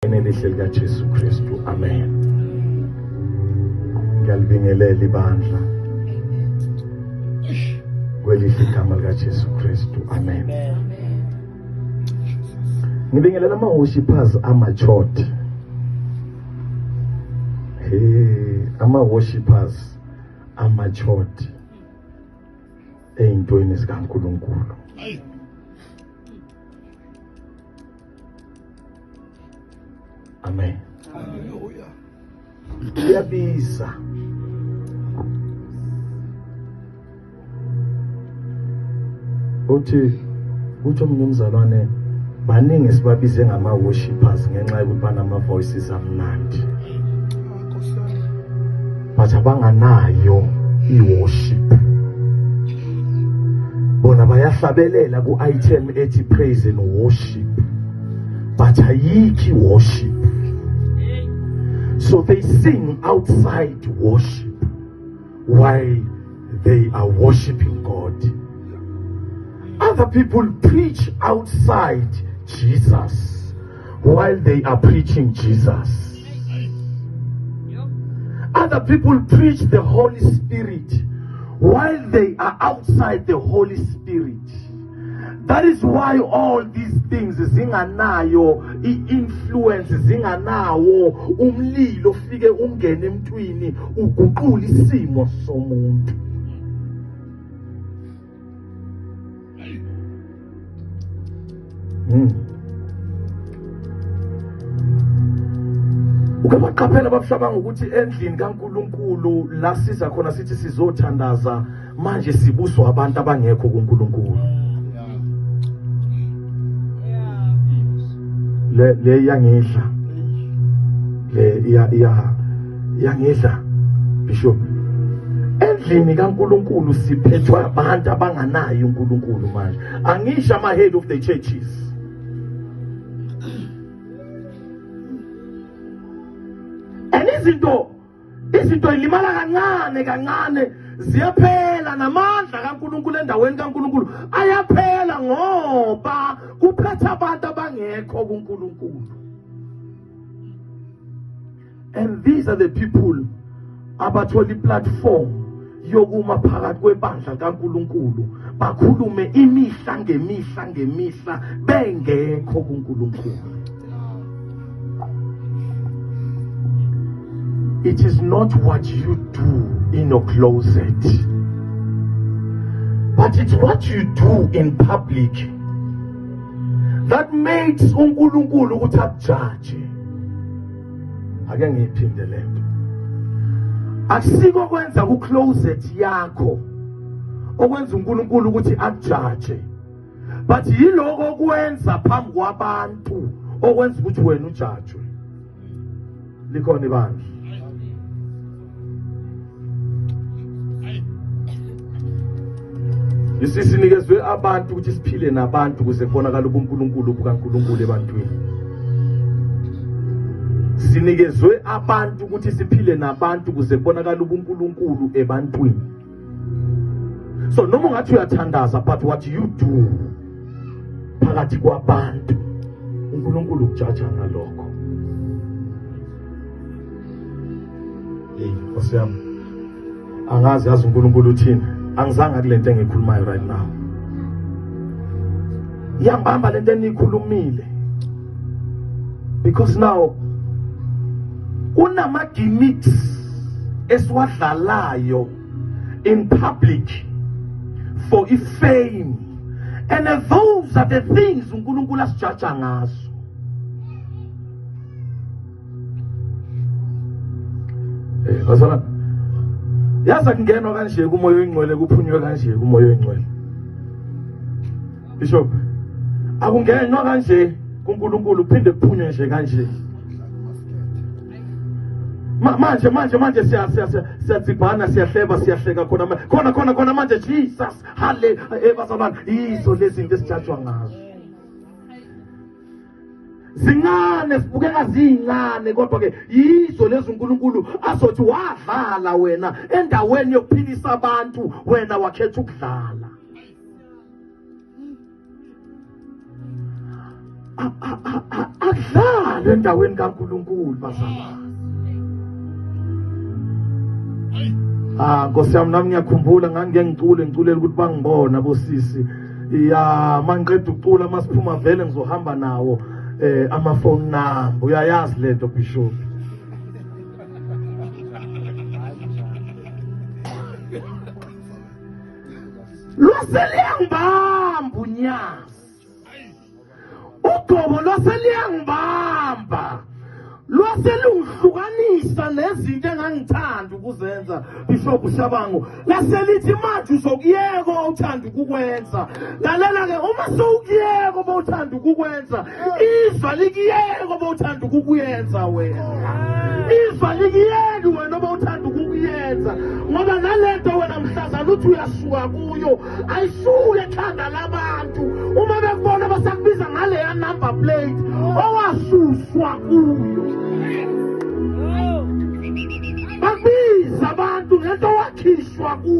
Enelihle likaJesu Kristu. Amen. Ngiyalibingelela ibandla. Kwelihle igama likaJesu Kristu. Amen. Ngibingelela amahoshi phazi amachot. Hey, ama worshippers amachot eyintweni zikaNkuluNkulu. Hey. Amen. Hallelujah. Kuyabiza. Uthi uthi omunye umzalwane baningi sibabize ngama worshippers ngenxa yokuthi banama voices amnandi. but abanganayo i-worship bona bayahlabelela ku-item ethi praise and worship but ayikho i-worship so they sing outside worship while they are worshiping God. Other people preach outside Jesus while they are preaching Jesus. Other people preach the Holy Spirit while they are outside the Holy Spirit. That is why all these things zinganayo i-influence zinganawo umlilo ufike ungene emntwini uguqula isimo somuntu hmm. uke baqaphela babuhlabanga ukuthi endlini kaNkuluNkulu la siza khona sithi sizothandaza manje sibuswa abantu abangekho kuNkulunkulu le le yangidla le iya iya yangidla bishop endlini kaNkuluNkulu siphethwa abantu abanganayo uNkuluNkulu manje angisho ama head of the churches and izinto izinto ilimala kancane kancane ziyaphela namandla kaNkuluNkulu endaweni kaNkuluNkulu ayaphela ngoba kuphetha abantu abangekho kuNkuluNkulu and these are the people abathola iplatform yokuma phakathi kwebandla likaNkuluNkulu bakhulume imihla ngemihla ngemihla bengekho kuNkuluNkulu It is not what you do in your closet but it's what you do in public that makes uNkulunkulu ukuthi akujaje ake ngiyiphinde lento akusiko kwenza ku closet yakho okwenza uNkulunkulu ukuthi akujaje but yiloko okwenza phambi kwabantu okwenza ukuthi wena ujajwe likhona ibandla Isisinikezwe abantu ukuthi siphile nabantu kuze kubonakala ubuNkulunkulu bukaNkulunkulu ebantwini. Sinikezwe abantu ukuthi siphile nabantu kuze kubonakala ubuNkulunkulu ebantwini. so noma ungathi uyathandaza but what you do phakathi kwabantu uNkulunkulu ukujaja ngalokho hey Nkosi yami angazi yazi uNkulunkulu uthini angizange kulento engikhulumayo right now iyambamba lento enikhulumile because now kunama gimmicks esiwadlalayo in public for ifame and those are the things uNkulunkulu asijaja ngazo eh bazala yaza kungenwa kanje kumoya oyingcwele kuphunywe kanje kumoya oyingcwele Bishop akungenwa kanje kuNkulunkulu kuphinde kuphunywe nje kanje manje manje manje siyadzibhana siyahleba siyahleka khona khona khona khona manje jesus hale eh, bazalwane yizo lezinto esijajwa ngazo zincane sibukeka ziyincane kodwa-ke yizo lezi unkulunkulu azothi wadlala wena endaweni yokuphilisa abantu wena wakhetha ukudlala akudlali endaweni kaNkulunkulu bazalwane Ah Nkosi yami nami ngiyakhumbula ngangike ngicule ngiculela ukuthi bangibona bosisi ya mangiqeda ukucula masiphuma vele ngizohamba nawo eh ama phone number uyayazi lento bishop lwaseliyangibamba unyazi ugobo lwaseliyangibamba lwaselungihlukanisa nezinto engangithanda ukuzenza bishop shabango laselithi manje uzokuyeka uthanda ukukwenza lalela-ke uma sewukuyeka uma uthanda ukukwenza iva likuyeka uma uthanda ukukuyenza wena iva likuyeki wena uma uthanda ukukuyenza ngoba nalento wena mhlazana uthi uyasuka kuyo ayisuke ekhanda labantu uma bekubona basakubiza ngaleya number plate owasuswa kuyo bakubiza abantu ngento wakhishwa kuyo